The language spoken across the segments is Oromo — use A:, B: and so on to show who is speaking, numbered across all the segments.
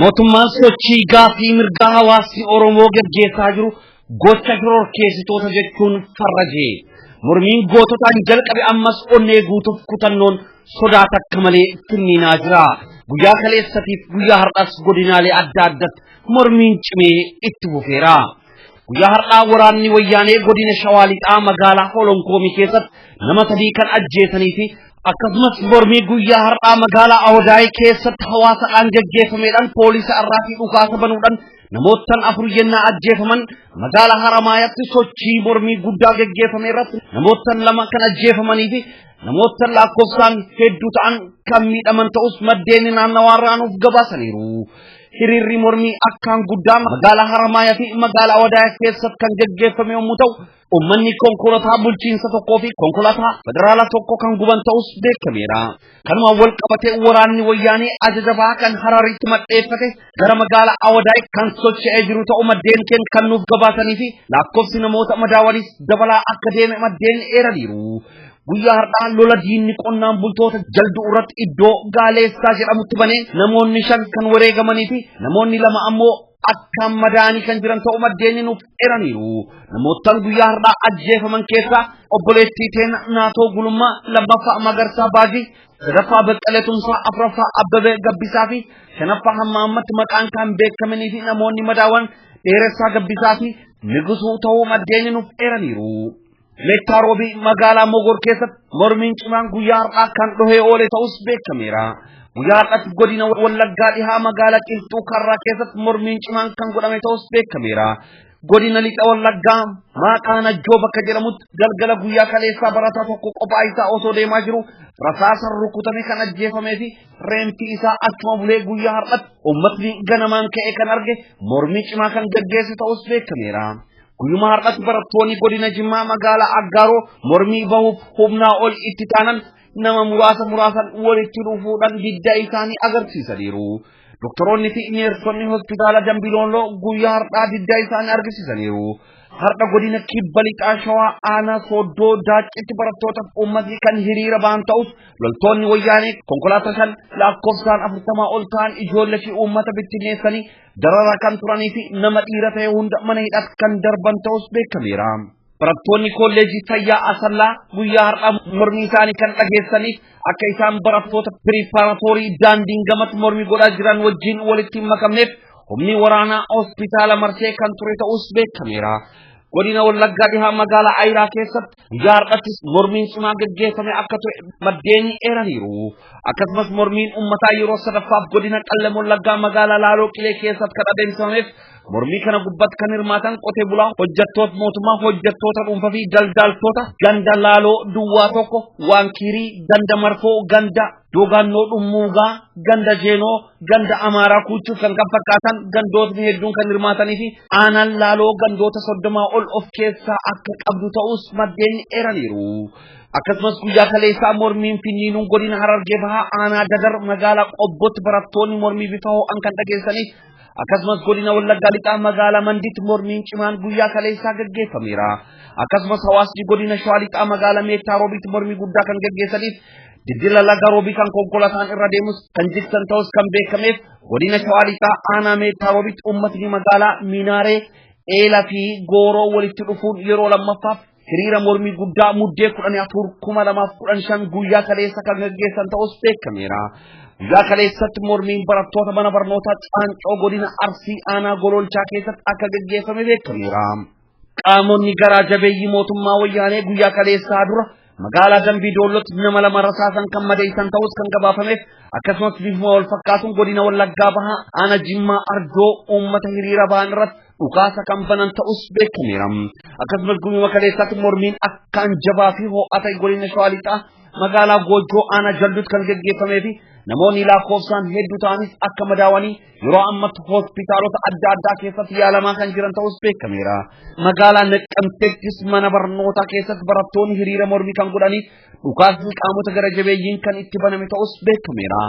A: Mootummaan sochii gaafii mirgaa hawaasni Oromoo gaggeessaa jiru gocha shororkeessitoota jechuun farrajee mormiin goototaan jalqabe ammas onnee guutuuf kutannoon sodaa takka malee finniinaa jira. Guyyaa kaleessatiif guyyaa har'as godinaalee adda addatti mormiin cimee itti fufeera. Guyyaa har'aa waraanni wayyaanee godina Shawaa Lixaa magaalaa Holonkoomii keessatti nama sadii kan ajjeesanii fi akkasumas mormii guyyaa har'aa magaalaa Awadaayii keessatti hawaasadhaan gaggeeffameedhaan poolisa irraa fi dhukaasa banuudhaan namoottan afur yennaa ajjeefaman magaalaa Haramaayatti sochii mormii guddaa gaggeeffame irratti namoottan lama kan ajjeefamanii fi namoottan lakkoofsaan hedduu ta'an kan miidhaman ta'us maddeen naannawaa irraa nuuf gabaasaniiru. Hiriirri mormii akkaan guddaa magaalaa Haramaayaa fi magaalaa Wadaayaa keessatti kan gaggeeffame yommuu ta'u, uummanni konkolaataa bulchiinsa tokkoo fi konkolaataa federaalaa tokko kan guban ta'us beekameera. Kanuma wal qabatee waraanni wayyaanee ajaja bahaa kan Hararitti maddeeffate gara magaalaa Awadaay kan socho'ee jiru ta'u maddeen keenya kan nuuf gabaasanii fi lakkoofsi namoota madaawaniis dabalaa akka deeme maddeen eeraniiru. Guyyaa har'aa lola diinni qonnaan bultoota jalduu irratti iddoo gaaleessaa jedhamutti banee namoonni shan kan wareegamanii fi namoonni lama ammoo akkaan madaa'anii kan jiran ta'uu maddeenni nuuf eraniiru. Namoottan guyyaa har'aa ajjeefaman keessaa obboleettii teena naatoo gulummaa lammaffaa magarsaa baajii sadaffaa baqqalee tumsaa afraffaa abbabee gabbisaa fi shanaffaa hamma ammatti maqaan kan beekamanii fi namoonni madaawan dheeressaa gabbisaa fi nigusuu ta'uu maddeenni nuuf eraniiru. Meettaa Roobii magaalaa Mogor keessatti mormiin cimaan guyyaa har'aa kan dhohee oole ta'us beekameera. Guyyaa har'aatti godina Wallaggaa dhihaa magaalaa Qilxuu Karraa keessatti mormiin cimaan kan godhame ta'us beekameera. Godina Lixa Wallaggaa maqaa Najjoo bakka jedhamutti galgala guyyaa kaleessaa barataa tokko qophaa isaa osoo deemaa jiru rasaasan rukutame kan ajjeefamee fi reenfi isaa achuma bulee guyyaa har'aatti uummatni ganamaan ka'e kan arge mormii cimaa kan gaggeesse ta'us beekameera. Guyyuma har'atti barattoonni godina Jimmaa magaalaa Aggaaroo mormii bahuuf humnaa ol itti taanan nama muraasa muraasan walitti dhufuudhaan diddaa isaanii agarsiisaniiru. Doktoroonni fi neersonni hospitaala Dambilooloo guyyaa har'aa diddaa isaanii argisiisaniiru. Har'a godina kibba lixaa shawaa aanaa sooddoo daacitti barattootaaf uummatni kan hiriira ba'an ta'us loltoonni wayyaanee konkolaataa shan lakkoofsaan afurtamaa ol ta'an ijoollee fi uummata bittinneessanii Dararaa kan turanii fi nama dhiira ta'e hunda mana hidhaatti kan darban ta'us beekameera. Barattoonni kolleejii fayyaa Asallaa guyyaa har'aa mormii isaanii kan dhageessaniif akka isaan barattoota piriparatoorii daandiin gamatti mormii godhaa jiran wajjin walitti hin makamneef humni waraanaa hospitaala marsee kan ture ta'us beekameera. Godina Wallaggaa dhihaa magaalaa Ayiraa keessatti Guyyaa har'attis mormiin cimaa gaggeeffame akka ture maddeen eeraniiru. Akkasumas mormiin uummataa yeroo sadaffaaf godina Qellem Wallaggaa magaalaa Laaloo Qilee keessatti kan adeemsifameef mormii kana gubbatti kan hirmaatan qotee bulaa hojjettoota mootummaa hojjettoota dhuunfaa fi daldaltoota ganda Laaloo Duwwaa tokko Waankiirii ganda Marfoo ganda Dogannoo Dhummuugaa, Ganda Jeenoo, Ganda Amaaraa Kuuchuuf kan kan fakkaatan gandootni hedduun kan hirmaatanii fi aanaan laaloo gandoota soddomaa ol of keessaa akka qabdu ta'us maddeen eeraniiru. Akkasumas guyyaa kaleessaa mormiin finniinuun godina Harargee bahaa aanaa Dadar magaalaa Qobbootti barattoonni mormii bifa ho'an kan dhageessanii akkasumas godina Wallaggaa lixaa magaalaa Manditti mormiin cimaan guyyaa kaleessaa gaggeeffameera. Akkasumas hawaasni godina Shawaa lixaa magaalaa Meettaa Roobiitti mormii guddaa kan gaggeessaniif Dildila laga roobii kan konkolataan irra deemus kan jigsan ta'us kan beekameef godina shawaa lixaa aanaa meettaa roobitti uummatni magaalaa Minaaree eela fi gooroo walitti dhufuun yeroo lammaffaaf hiriira mormii guddaa muddee kudhanii afur kuma lamaaf kudhan shan guyyaa kaleessa kan gaggeessan ta'us beekameera. Guyyaa kaleessatti mormiin barattoota mana barnootaa Caancoo godina Arsii aanaa Gololchaa keessatti akka gaggeeffame beekameera. Qaamonni garaa jabeeyyii mootummaa wayyaanee guyyaa kaleessaa dura magaalaa Dambii Doollootti nama lama rasaasan kan madeessan ta'us kan gabaafameef akkasumas bifuma wal fakkaatuun godina Wallaggaa bahaa aana Jimmaa Ardoo uummata hiriira ba'an irratti dhukaasa kan banan ta'us beekameera. Akkasumas guyyaa kaleessaatti mormiin akkaan jabaa fi ho'aa ta'e godina Shawaa Lixaa magaalaa Goojjoo aana Jalduutti kan geggeeffamee fi namoonni lakkoofsaan hedduu ta'anis akka madaawanii Yeroo ammatti hospitaalota adda addaa keessatti yaalamaa kan jiran ta'us beekameera. Magaalaa Naqqamteettis mana barnootaa keessatti barattoonni hiriira mormii kan godhanii dhukaasni qaamota gara jabeeyyiin kan itti baname ta'us beekameera.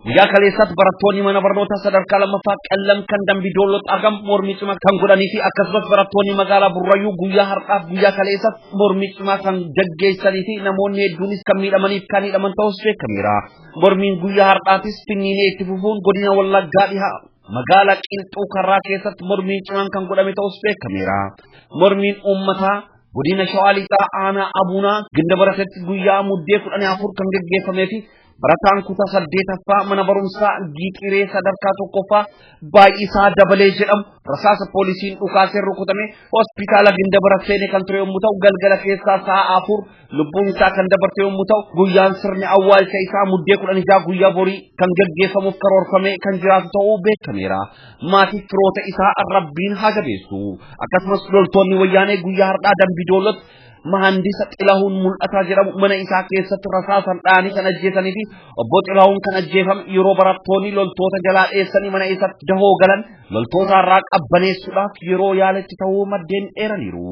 A: Guyyaa kaleessaatti barattoonni mana barnootaa sadarkaa lammaffaa qallam kan dambii doolloo xaagam mormii cimaa kan godhanii fi akkasumas barattoonni magaalaa Burrayyuu guyyaa har'aaf guyyaa kaleessaatti mormii cimaa kan gaggeessanii fi namoonni hedduunis kan miidhamaniif kan hidhaman ta'us beekameera. Mormiin guyyaa har'aatis finniinee itti fufuun godina Wallaggaa dhihaa magaalaa Qilxuu Karraa keessatti mormiin cimaan kan godhame ta'us beekameera. Mormiin uummataa godina Shawaa Lixaa aanaa Abuunaa ginda baratetti guyyaa muddee kudhanii afur kan geggeeffamee fi barataan kutaa saddeetaffaa mana barumsaa giixiree sadarkaa tokkoffaa baay'isaa dabalee jedhamu rasaasa poolisiin dhukaaseen rukutame hospitaala ginda baratee kan ture yommuu ta'u galgala keessaa sa'a afur Lubbuun isaa kan dabarte yommuu ta'u guyyaan sirni awwaalcha isaa muddee kudhan ijaa guyyaa borii kan gaggeeffamuuf karoorfamee kan jiraatu ta'uu beekameera. Maatii firoota isaa rabbiin haa jabeessu. Akkasumas loltoonni wayyaanee guyyaa har'aa dambii doolotti mahandisa xilahuun mul'ataa jedhamu mana isaa keessatti rasaasan dhaanii kan ajjeesanii fi obbo xilahuun kan ajjeefame yeroo barattoonni loltoota jalaa dheessanii mana isaatti dahoo galan loltoota irraa qabbaneessuudhaaf yeroo yaaletti ta'uu maddeen eeraniiru.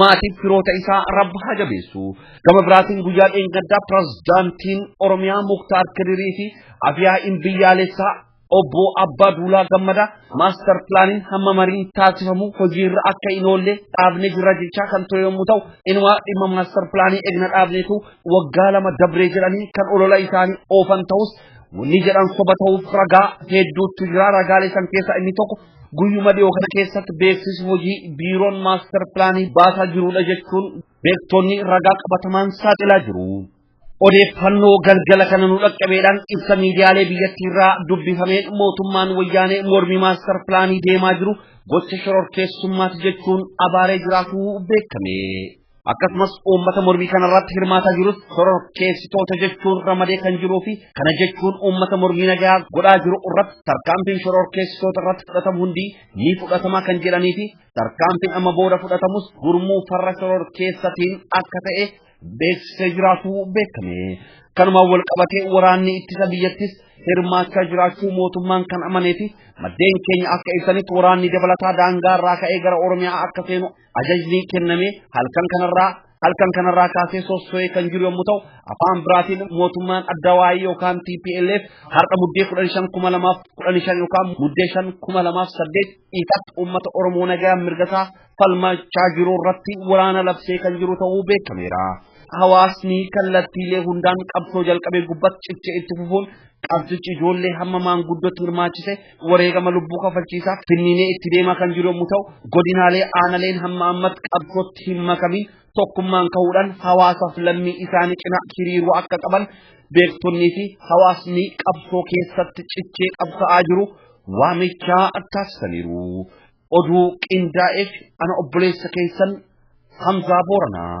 A: maatiif firoota isaa rabbi haa jabeessu. Gama biraatiin guyyaa dheengaddaa pirezidaantiin Oromiyaa Muktaar Kadirii fi Afiyaa'iin biyyaalessaa obbo Abbaa Duulaa Gammadaa maastar pilaaniin hamma mariin taasifamu hojiirra akka hin oolle dhaabne jira jechaa kan ture yommuu ta'u inumaa dhimma maastar pilaanii egna dhaabneetu waggaa lama dabree jedhanii kan olola isaanii oofan ta'us wanni jedhan soba ta'uuf ragaa hedduutu jira ragaalee san keessaa inni tokko Guyyuma dhiyoo kana keessatti beeksisi hojii biiroon maastar pilaanii baasaa jirudha jechuun beektonni ragaa qabatamaan saaxilaa jiru. Odeeffannoo galgala kana nu dhaqqabeedhaan ibsa miidiyaalee biyyattiirraa dubbifameen mootummaan wayyaanee mormii maastar pilaanii deemaa jiru gocha shororkeessummaati jechuun abaaree jiraatuu beekame. akkasumas uummata mormii kanarratti hirmaataa jirus shororkeessitoota jechuun ramadee kan jiruu fi kana jechuun uummata mormii nagaa godhaa jiru irratti tarkaanfiin shororkeessitoota irratti fudhatamu hundi ni fudhatamaa kan jedhanii fi tarkaanfiin amma booda fudhatamus gurmuu farra shororkeessatiin akka ta'e beeksisee jiraatu beekame. Kanumaan wal qabatee waraanni ittisa biyyattis hirmaachaa jiraachuu mootummaan kan amanee fi maddeen keenya akka ibsanitti waraanni dabalataa daangaa irraa ka'ee gara Oromiyaa akka seenu Ajajni kenname halkan kanarraa halkan kanarraa kaasee sosso'ee kan jiru yommuu ta'u afaan biraatiin mootummaan adda waa'ee yookaan TPLF har'a muddee kudhan shan kuma lamaaf kudhan shan yookaan muddee shan kuma lamaaf saddeet ifatti uummata Oromoo nagaa mirgasaa falmachaa jiru irratti waraana labsee kan jiru ta'uu beekameera. Hawaasni kallattiilee hundaan qabsoo jalqabee gubbatti cichee itti fufuun qabsichi ijoollee hamma maanguddootti hirmaachise wareegama lubbuu kafalchiisaa finniinee itti deemaa kan jiru yommuu ta'u godinaalee aanaleen hamma ammatti qabsootti hin makamin tokkummaan ka'uudhaan hawaasaaf lammii isaanii cina hiriiruu akka qaban beektonnii fi hawaasni qabsoo keessatti cichee qabsa'aa jiru waamichaa taasisaniiru. Oduu qindaa'eef ana obboleessa keessan Hamzaa Booranaa.